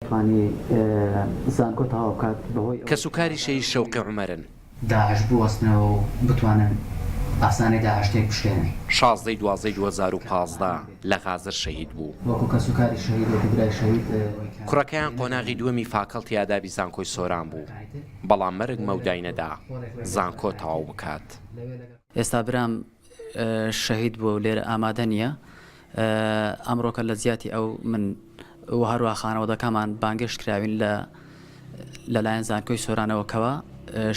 توانی زانکۆ تەواو بکات بەهۆی ئەوەی کەسوکاری شەهید شەوقی عومەرن. داعش بوەستنەوە و بتوانن ئاسانی داعش تێک بشکێنن. شازدە ی دوازدە ی دوو هەزار و پازدە لە غازر شەهید بوو. وەکو کەسوکاری شەهید وەکو برای شەهید. کوڕەکەیان قۆناغی دووەمی فاکەڵتی ئادابی زانکۆی سۆران بوو بەڵام مەرگ مەودای نەدا زانکۆ تەواو بکات. ئێستا برام شەهید بووە و لێرە ئامادە نییە. ئەمڕۆکە لە جیاتی ئەو من و هەروە خانەوەدەکەمان بانگێشت کراوین لە لەلایەن زانکۆی سۆرانەوەکەوە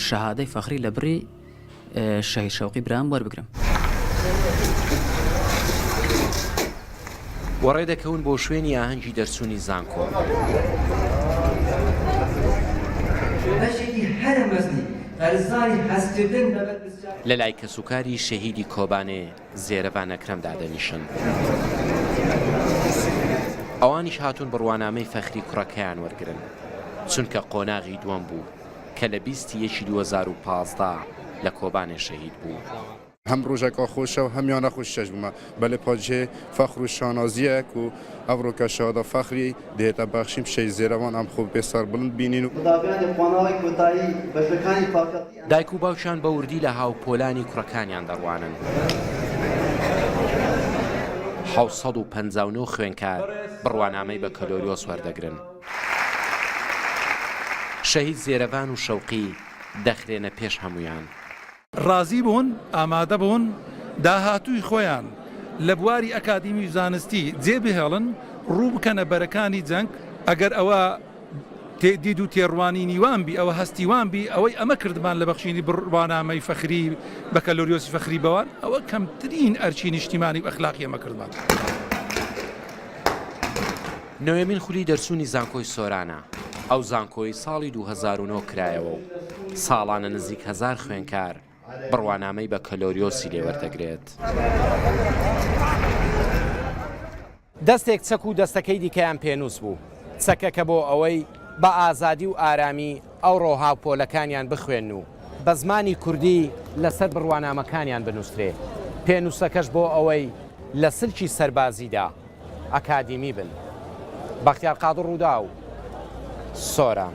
شەهادەی فەخری لە بڕی شەهید شەوقی برام وەربگرم. و ڕێدەکەون بۆ شوێنی ئاهەنگی دەرچوونی زانکۆ. بەشێکی هەرە مەزنی قەرزاری هەستکردن بە بەرپرسیارێتی لەلای کەسوکاری شەهیدی کۆبانێ زێرەڤان ئەکرەم دادەنیشن. ئەوانیش هاتوون بڕوانامەی فەخری کوڕەکەیان وەرگرن، چونکە قۆناغی دووەم بوو، کە لە بیست ی یەکی دوو هەزار و پازدە لە کۆبانێ شەهید بوو. هەم ڕوژەکا خۆشە و هەمیان نەخۆش چێژ بمە بەلێ پاجێ فەخر و شانازیەک و ئەڤڕۆ کە شەهادە فەخری دێتە بەخشین پشەی زێرەڤان ئەم خۆ بێ سەر بڵند بینین و. دایک و باوکیان بە وردی لە هاوپۆلانی کوڕەکانیان دەڕوانن. حەوت سەد و پەنجا و نۆ خوێندکار بڕوانامەی بەکەلۆریۆس وەردەگرن. شەهید زێرەڤان و شەوقی دەخرێنە پێش هەموویان. ڕازی بوون، ئامادە بوون داهاتووی خۆیان لە بواری ئەکادیمی و زانستی جێ بهێڵن، ڕوو بکەنە بەرەکانی جەنگ، ئەگەر ئەوە. دید و تێڕوانینی وام بی، ئەوە هەستی وام بی، ئەوەی ئەمە کردمان لە بەخشینی بڕوانامەی فەخری، بەکالۆریۆسی فەخری بەوان، ئەوە کەمترین ئەرکی نیشتیمانی و ئەخلاقی ئەمە کردمان. نۆیەمین خولی دەرچوونی زانکۆی سۆرانە، ئەو زانکۆی ساڵی دوو هەزار و نۆ کرایەوە و ساڵانە نزیک هەزار خوێنکار، بڕوانامەی بەکەلۆریۆسی لێ وەردەگرێت. دەستێک چەک و دەستەکەی دیکەیان پێنووس بوو. چەکەکە بۆ ئەوەی بە ئازادی و ئارامی ئەوڕۆ هاوپۆلەکانیان بخوێن و بە زمانی کوردی لەسەر بڕوانامەکانیان بنووسرێ، پێنووسەکەش بۆ ئەوەی لە سلکی سەربازیدا ئەکادیمی بن. بەختیار قادر رووداو، سۆران.